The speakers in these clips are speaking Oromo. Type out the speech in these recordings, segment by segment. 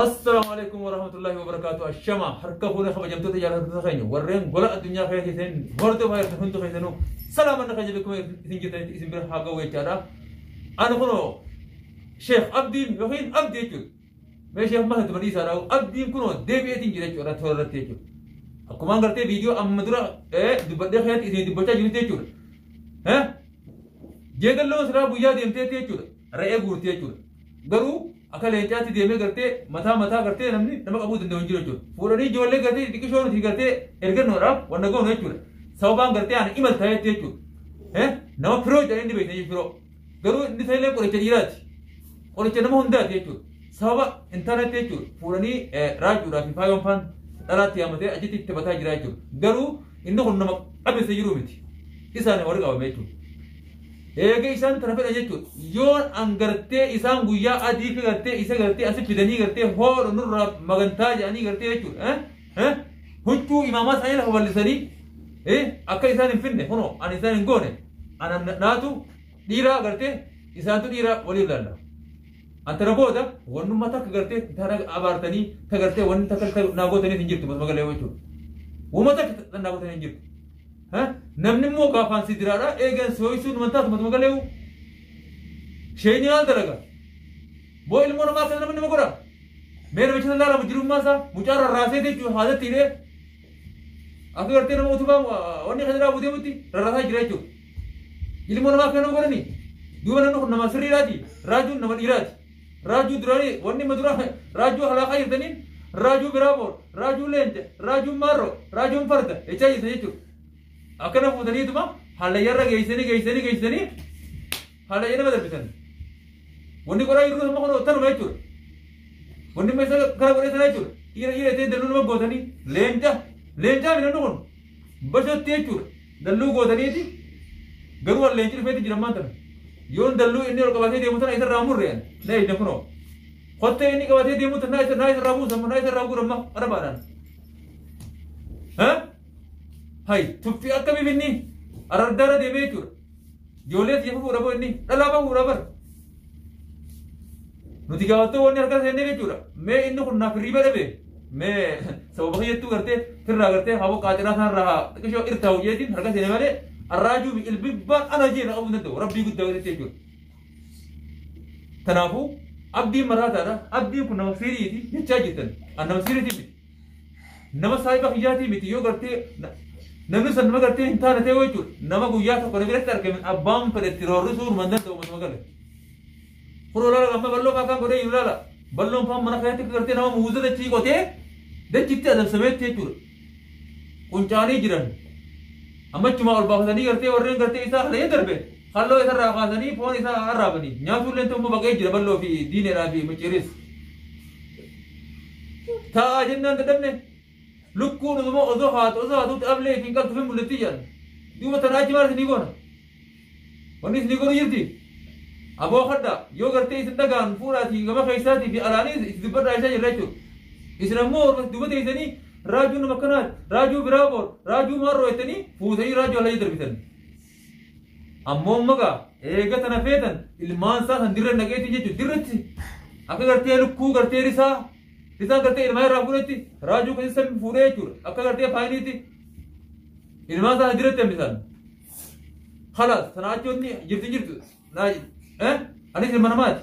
Assalaamu alaikum warahmatullahi wabarakatuh. Ashama harka fuune kabajamtoota jaalattoota keenya warreen gola addunyaa keessa keessan hordofaa jirtan hundi keessanuu salaaman na kajabe kuma isin jirtanitti isin bira haa ga'u jechaadha. Ani kunoo Sheekh Abdiin yookiin Abdi jechuudha. Mee Sheekh Maha Tuma dhiisaa dhaa'u Abdiin kunoo deebi'eetiin jira jechuudha toora irratti jechuudha. Akkuma gartee viidiyoo amma dura dubbadhee keessatti isin dubbachaa jirti jechuudha. Jeedalloo siraa guyyaa deemteetti jechuudha. Re'ee guurti jechuudha. Garuu Akka leencaatti deemee gartee mataa mataa gartee namni nama qabuu danda'u hin jiru jechuudha. Fuudhanii ijoollee gartee xixiqqishoo nuti gartee ergannoodhaaf wanna goonu jechuudha. Sababaan gartee ani imal ta'ee jechuudha. Eh? Nama firoo jedhan inni beekne firoo. Garuu inni ta'ellee qoricha dhiiraati. Qoricha nama hundaati jechuudha. Sababa intarneetti jechuudha. Fuudhanii eh, raajuudhaa fi faayoon faan dhalaatti yaamatee achitti itti bataa jira jechuudha. Garuu inni kun nama qabeessa jiru miti. Isaan warri qabame jechuudha. Eega isaan tana fedhan jechuudha. Yoon an gartee isaan guyyaa adii fi gartee isa gartee asi fidanii gartee hoodha nurraa magantaa jedhanii gartee jechuudha. Eh? Eh? Huccuu imaamaa isaanii lafa bal'isanii eh? akka isaan hin finne kunoo ani isaan hin goone ana na- naatu dhiiraa gartee isaantu dhiiraa waliif laalla. Antara booda wannummaa takka gartee tana abaartanii ta gartee wanni takka takka naa gootaniif hin jirtu magalee jechuudha. Wama takka naa gootaniif hin jirtu. Ha? Namni immoo gaafaan si diraadha eegan si ho'isuun wanta ati matuma galeewu. Sheenyi maal dalaga? Moo ilmoo namaa akkana namni nama godha? Mee namicha sana laala mujjirummaa isaa mucaa rarraasee jechuun haadatti hidhee akka gartee nama utubaa uh, wanni kan irraa buteemutti rarraasaa jira jechuudha. Ilmoo namaa akkana nama godhani? Duuba namni kun nama sirriidhaati. Raajuun nama dhiiraati. Raajuu Durarii wanni ma dura Raajuu halaaqa jirtaniin Raajuu Biraaboor Raajuu Leenca Raajuu Maarroo Raajuun Farda jechaa jirtan jechuudha. Akkana fuutaniituma hallayyarra geessanii geessanii geessanii hallayya nama darbisan. Wanni qoraa jirtu amma kun tanuma jechuudha. Wanni ma isa kana godhee sana jechuudha. Dhiira dhiira ta'e dalluu nama gootanii leenca leencaa midhaan kun bashotti jechuudha. Dalluu gootaniiti garuu an leenci dhufeeti jiran maan tana. Yoon dalluu inni ol qabatee deemu tana isarraa murre an na eegdan kunoo. Kottee inni qabatee deemu tana naa isa naa isarraa buusa amma naa isarraa guura amma arabaadhaan. Ha? Hai tuffii akka bifinni arardaara deemee jechuudha. Ijoollee itti fufuudha boo inni dhalaa bahuudha bar. Nuti gaafattoo wanni harka seennee jechuudha. Mee inni kun naaf hirriba dhabe. Mee sababa kiyyattuu gartee firraa gartee haa boqqaa ciraa isaarraa haa xiqqishoo irtaa hojjeetiin harka seene malee arraajuu fi ilbibbaan ana jee na qabuu danda'u rabbii guddaa gaditti jechuudha. Kanaafuu abdiin maraataadha. Abdiin kun nama siriiti jechaa jirtan. An nama siriiti miti. Nama saahiba kiyyaatii miti yoo gartee na- namni san nama gartee hin taane ta'e jechuudha. Nama guyyaa tokko na biratti argame abbaan fedhe itti roorrisuu hin danda'u manuma gale. Kun olaanaa amma bal'oo fa'aa kan godhee hin ilaala. Bal'oon fa'aa mana keessatti akka gartee nama muuza dachii qotee dachitti adamsameetti jechuudha. Quncaanii jiran. Amma achumaa ol baafatanii gartee warreen gartee isaa halayee darbe halloo isarraa kaasanii foon isaa arraabanii nyaatuullee ta'umma baqee jira bal'oo fi diineedhaa fi micciiris. Taa'aa jennaan dadhabne lukkuun uumama osoo haatu osoo haatuutti ablee ifiin qaltu fi mul'atti jedhan. Duuba tana achi maal isinii goona? Wanni isinii godhu jirti. Aboo kadhaa yoo gartee isin dhagaan fuudhaatii gama keessaatii fi alaanii isin dubbadhaa isaa jirra jechuudha. Isin ammoo orma duuba teessanii raajuu nama kanaati, raajuu biraa boor, raajuu maarroo jettanii fuutanii raajuu alaa darbitan. Ammoo amma gaa eega tana feetan ilmaan isaa kan dirra naqeetiin jechuun dirratti akka gartee lukkuu gartee risaa risaan gartee ilmaa irraa fuudhetti raajuu kan isa fuudhee jechuudha akka gartee faayiniitti ilmaan isaa dirratti hambisan. Kalaas sanaa achoonni jirti jirtu Naaj, eh, ani ilma namaati.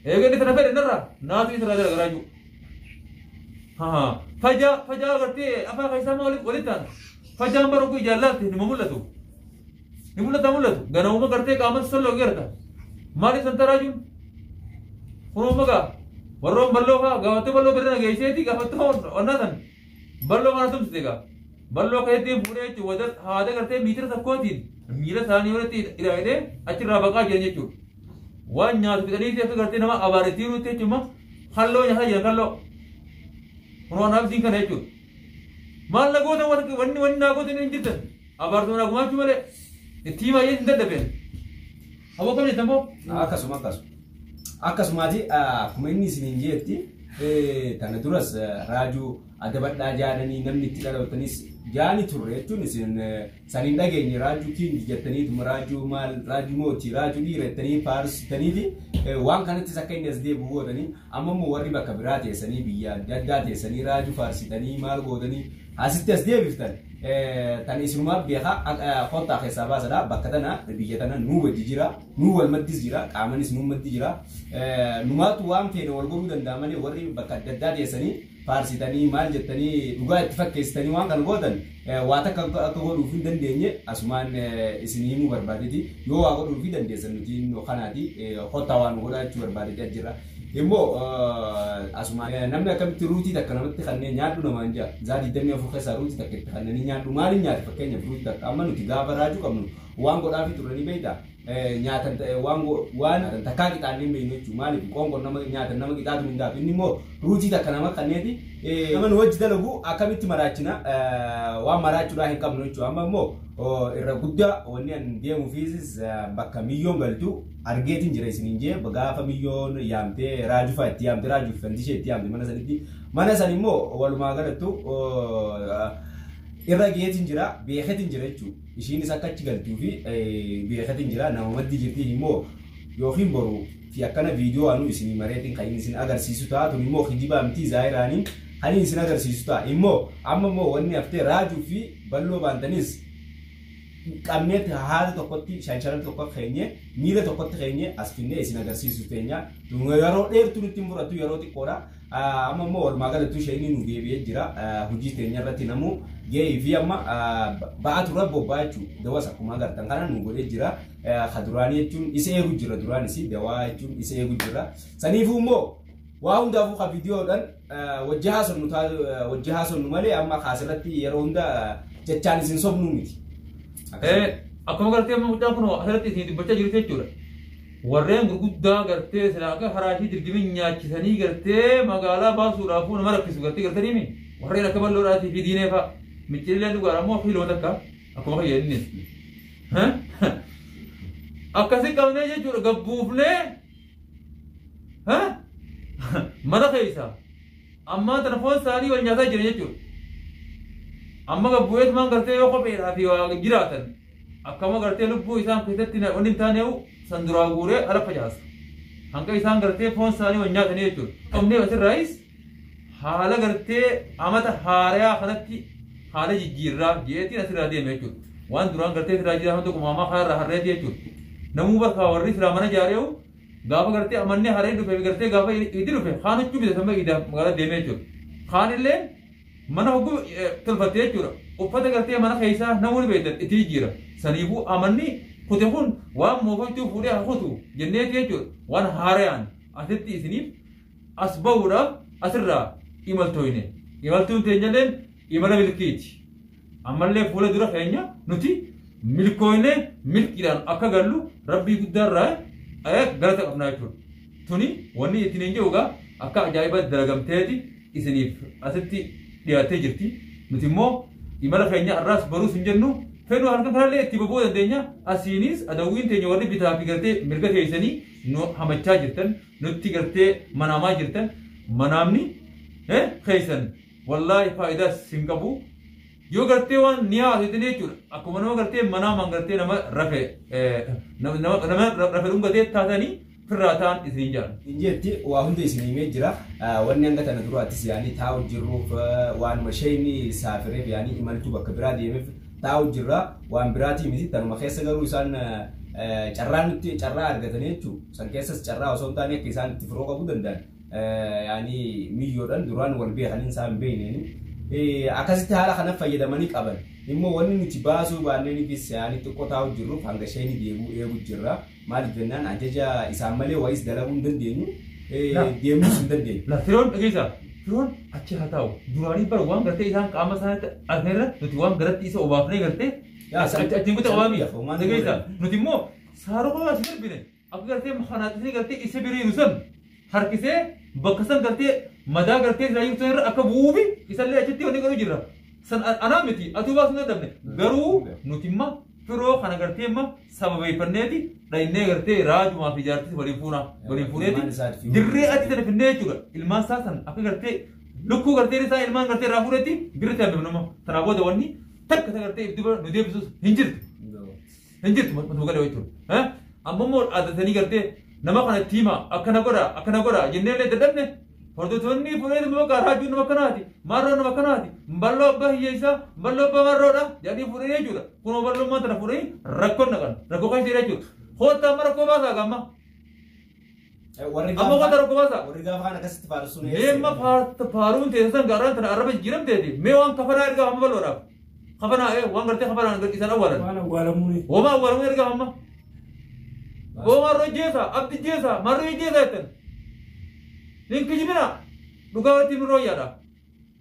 Eega inni tana fedhe narraa, naatu isa irraa garagaraa jiru. Haa, fajaa, fajaa agartee afaa keessaa maa walitti walitti taana. Fajaan bara oguu ijaan laalte nima mul'atu. Ni mul'ata mul'atu. Ganawuma gartee qaama salloo garta. Maaliif san taraa jiru? Kunoo magaa warroon balloo faa gaafattee balloo birra na geesseeti gaafattoo onnaa san. Balloo kana tumsite egaa. Balloo keessatti fuudhee jechuun wada haada gartee miitira tokkootiin miila isaanii walitti hidhaa'ee achirraa baqaa jiran jechuudha. Waan nyaatu fixanii fi akka gartee nama abaarisiin nutti jechuudha. Kalloo nyaataa jiran kalloo. Kun waan abdiin kana jechuudha. Maal na goota warqi wanni wanni naa goota hin jirtan. Abaartuu naa gumaachuu malee. Itti himaa hin dadhabeen. Aboo kam jettan boo? Akkasuma akkasuma. Akkasumaati akkuma inni isiniin jeetti kana duras raajuu adabadhaa jaadanii namni itti dhalootaniis jaani turre jechuun isin saniin dhageenye raajuu kiingi jettaniituma raajuu maal raajuu mootii raajuu dhiira jettanii faarsitaniiti waan kanattis akka inni as deebi'u gootanii amma immoo warri bakka biraa teessanii biyya adda addaa teessanii raajuu faarsitanii maal gootanii Asitti as deebiftan tan isinumaaf beeka kottaa keessaa baasadha bakka tana biyya tana nuu wajji jira nuu wal maddis jira qaamanis nuu maddi jira numaatu waan feene wal godhuu danda'a malee warri bakka adda addaa teessanii faarsitanii maal jettanii dhugaa itti fakkeessitanii waan kana gootan waa takka akka godhuuf hin dandeenye asumaan isin himuu barbaadeti yoo waa godhuuf dandeessan nuti kanaati kottaa waan godhaa jechuu barbaadeti ajjirra. Immoo asuma namni akkamitti ruutii takka namatti kanneen nyaadhu namaan jaa zaa 24 keessaa ruutii takka itti kanneen nyaadhu maaliin nyaata fakkeenyaaf ruutii takka amma nuti gaafa raajuu qabnu waan godhaafi turre ni beekta nyaatan waan waan takkaa qixaannee hin beeknu jechuudha maaliif qoonqoon nama nyaatan nama qixaatu hin daatu inni immoo ruutii takka nama kanneeti nama nu wajji dalagu akkamitti maraachina waan maraachuudhaa hin qabnu jechuudha amma immoo irra guddaa wanni an deemuufiis bakka miyyoon galtu argeetin jira isinin jee gaafa miyyoon yaamte raajufaa itti yaamte raajuuf fandishee itti yaamte mana sanitti mana san immoo walumaa galattu irra geetin jira beeketin jira jechuu ishiinis akka achi galtuu fi beeketin jira nama maddi jirti immoo yookiin boru fi akkana viidiyoo anuu isinii mareetiin kan inni isin agarsiisu ta'a tun immoo kijibaa mitii zaayiraaniin kan inni isin agarsiisu ta'a immoo amma immoo wanni haftee raajuu fi balloo baantanis hin qabneetti haala tokkotti shansharatti tokko keenye miila tokkotti keenye as finnee isin agarsiisu keenya yeroo dheertuu nutti hin fudhatu yeroo xiqqoodha amma immoo walumaa galattuu ishee inni nu deebi'ee jira hojii teenya irratti namuu ga'ee fi amma ba'aa turre bobbaa jechuun dawas akkuma agartan kana nu godhee jira ka duraanii jechuun isa eegu jira duraanis dawaa jechuun isa eegu jira saniifuu immoo Waa hundaafuu ka viidiyoodhaan wajji haasofnu wajji haasofnu malee amma kaasirratti yeroo hunda jechaan isin sobnuu miti. Akkuma gartee amma mucaan kun asirratti isin dubbachaa jirtu jechuudha. Warreen gurguddaa gartee silaa akka haraashii dirgimin nyaachisanii gartee magaalaa baasuudhaaf nama rakkisu gartee gartanii mi warreen akka balloodhaatii fi diinee fa'a miccirillee dhugaadha ammoo akka hiloota akka akkuma kan jedhanii. Akkasi qabnee jechuudha gabbuufnee Ha? Mana keessa. Ammaa tana foon isaanii wal nyaataa jira jechuudha. Amma gabbu'eet maan gartee yoo kopheedhaa fi waa jiraatan akkama gartee lubbuu isaan keessatti na- wanni hin taane san duraa guuree ala facaasa. Hanga isaan gartee foon isaanii wal nyaatanii jechuudha. Qabnee asirraayis haala gartee amata haarayaa kanatti haala jijjiirraa jeetiin asirraa deeme jechuudha. Waan duraan gartee asirraa jiraa hanga tokko maamaa kanarraa harree jechuudha. Namuu bakka warri siraa mana jaareewu gaafa gartee amannee harree dhufe gartee gaafa itti dhufe kaan huccuu bitatama idaa magaalaa deeme jechuudha. Kaan illee mana hogguu tolfatte jechuudha. Uffata gartee mana keessaa namoonni beektan itti jijjiira. Saniifuu amanni kute kun waan moofachuu fuudhee hakutu jenneeti jechuudha. Waan haarayaan asitti isiniif as bahuudhaaf asirraa imaltooyne. Imaltuun teenyalleen imala milkiiti. Ammallee fuula dura keenya nuti milkooyne milkiidhaan akka gallu rabbii guddaarraa eh, galata qabnaa jechuudha. Tuni wanni ittiin hin jiru egaa akka ajaa'iba dalagamteeti isiniif asitti dhiyaattee jirti. Nuti immoo imala keenya har'aas baruus hin jennu fedhuu halkan kanallee itti boba'uu dandeenya. Asiinis adawwiin teenya warri bitaa fi galtee mirga keessanii nu hamachaa jirtan nutti gartee manaamaa jirtan manaamni eh, keessan wallaahi faayidaas sin qabu yoo gartee waan ni haasitanii jechuudha akkuma nama gartee manaamaan gartee nama rafe eh, nama nama- nama rafe dhungatee taatanii firraa ta'an isiniin jedhan. Injeetti waa hunda isin himee jira. Ah, Wanni hanga tana duraattis yaanii taa'u jirruuf ah, waanuma isheen saafireef yaanii imaltuu bakka biraa deemeef taa'u jirra waan biraatii miti tanuma keessa garuu isaan carraa nutti carraa argatanii jechuun san keessas carraa osoo hin taane akka isaan itti firoo qabu danda'an yaani miyyoodhaan duraan wal beekaniin isaan beekneeni akkasitti haala kana fayyadamanii qaban immoo wanni nuti baasuu baanneenifis yaani xiqqoo taa'u jirruuf hanga isheen deebi'u eegu jirra. Maaliif jennaan ajaja isaan malee wayis dalaguu hin dandeenyu, eh, Laal. deemuus hin dandeenyu. La firoon dhageessa. Firoon achi haa taa'u. Duraanii bara waan gartee isaan qaama isaaniitti argneerra nuti waan garatti isa obaafnee gartee Yaa, achi san- achiin kutaa san- waamii. lafa waan Dhageessa. godhan. Nuti immoo saaroo qofa as darbine akka gartee maqanaaxisni gartee isa biriiru san harkisee bakka san galtee madaa galtee silaa jirtu irra akka bu'uufi isallee achitti wanni godhu jirra. San a- anaa miti atuu baasuu hin dadhabne garuu nuti imma firoo kana galtee imma sababeeffanneeti dhayinnee galtee raajumaa fi jaartis waliin fuuna waliin fuuneeti dirree achi sana finnee jechuudha ilmaan isaa san akka galtee lukkuu galtee isaa ilmaan galtee irraa fuudhetti dirree taa'e nama tanaa booda wanni takka isa galtee itti nu deebisus hin jirtu. hin jirtu maqatu galee jechuun amma immoo dhaadatanii gartee nama kana itti hima akkana godha akkana godha jennee illee dadhabne hordoftoonni fuudhee immoo gaa raajuun nama kanaati maarroo nama kanaati balloo abbaa hiyyeessaa balloo abbaa marroodha jedhanii fuudhee jechuudha kunoo balloo maanta na fuudhanii rakkoon naqan rakkoo keessa jira jechuudha koottaa amma rakkoo baasaa gamma Warri Amma gaafa- wanta rakkoo baasaa. warri gaafa kana akkasitti faarsu ni Meemma faar- faaruun teessan gaaraan tana arraba jijjiiramteeti. Mee waan kafanaa ergaa hamma bal'oodhaaf. Kafanaa ee waan gartee kafanaan gadhiisan awwaalan. Waan awwaalamuuni. Homaa awwaalamuu ergaa hamma. Homaa irra jeesa, abdi jeesa, marree jeesa jettan. Hin kijibina. Dhugaa irratti mirroo yaadha.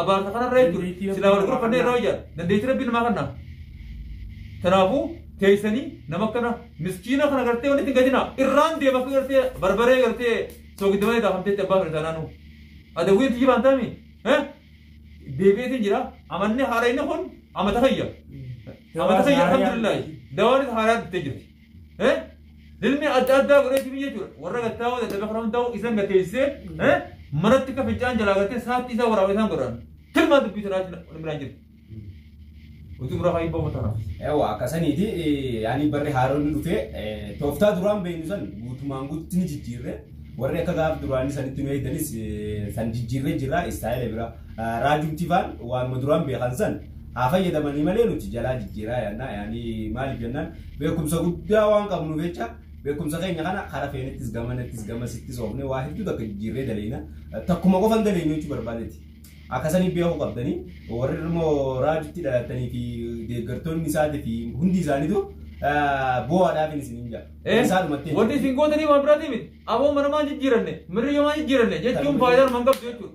abaarsa kanarra jechuudha silaa wal gorfannee irraa hojjaa dandeettii rabbii namaa kanna kanaafuu teessanii nama akkana miskiina kana gartee walitti hin gadinaa irraan deema akka gartee barbaree gartee soogiddamaa irraa hamteetti abbaa firisaa naannoo adawwiin tiyyi baantaami deebi'eetiin jira amanni haarayni kun amata fayya amata fayya alhamdulillahi dawaanis haaraa dhuftee jirti Eh? Dilmi adda addaa godhee sifi jechuudha. Warra gattaa'oo dadhabee karaa hundaa'u isan gateessee eh? manatti akka fincaan jalaa gatee saatti isaa waraabee isaan godhan. Tilmaa dubbii tanaa biraan jirti. Utuu biraa kaayii bahu tanaaf. Ewa akkasaniiti yaani barri haaroonni dhufee eh, tooftaa duraan beeknu san guutumaan guutti ni jijjiirre warri akka gaaf duraanii sanitti nu eegdanis eh, san jijjiirre jira istaayila biraa. Raajum Tifaan waanuma duraan beekan san haa fayyadamanii malee nuti jalaa jijjiiraa yaannaa yaani maaliif jennaan beekumsa guddaa waan qabnuuf jecha beekumsa keenya kana karaa feenettis gamanattis gamasittis oofnee waa hedduu takka jijjiirree daleeyna takkuma qofan daleeynu jechuu barbaadeeti. Akkasanii beekuu qabdanii warri immoo raajutti dhalatanii fi deeggartoonni isaatii fi hundi isaaniitu bu'aadhaaf isin hin jaa. Isaadhumatti. Wanti isin gootanii waan biraatii miti. Aboo manamaan jijjiiranne, mirriyyoomaan jijjiiranne jechuun faayidaan man qabdu jechuudha.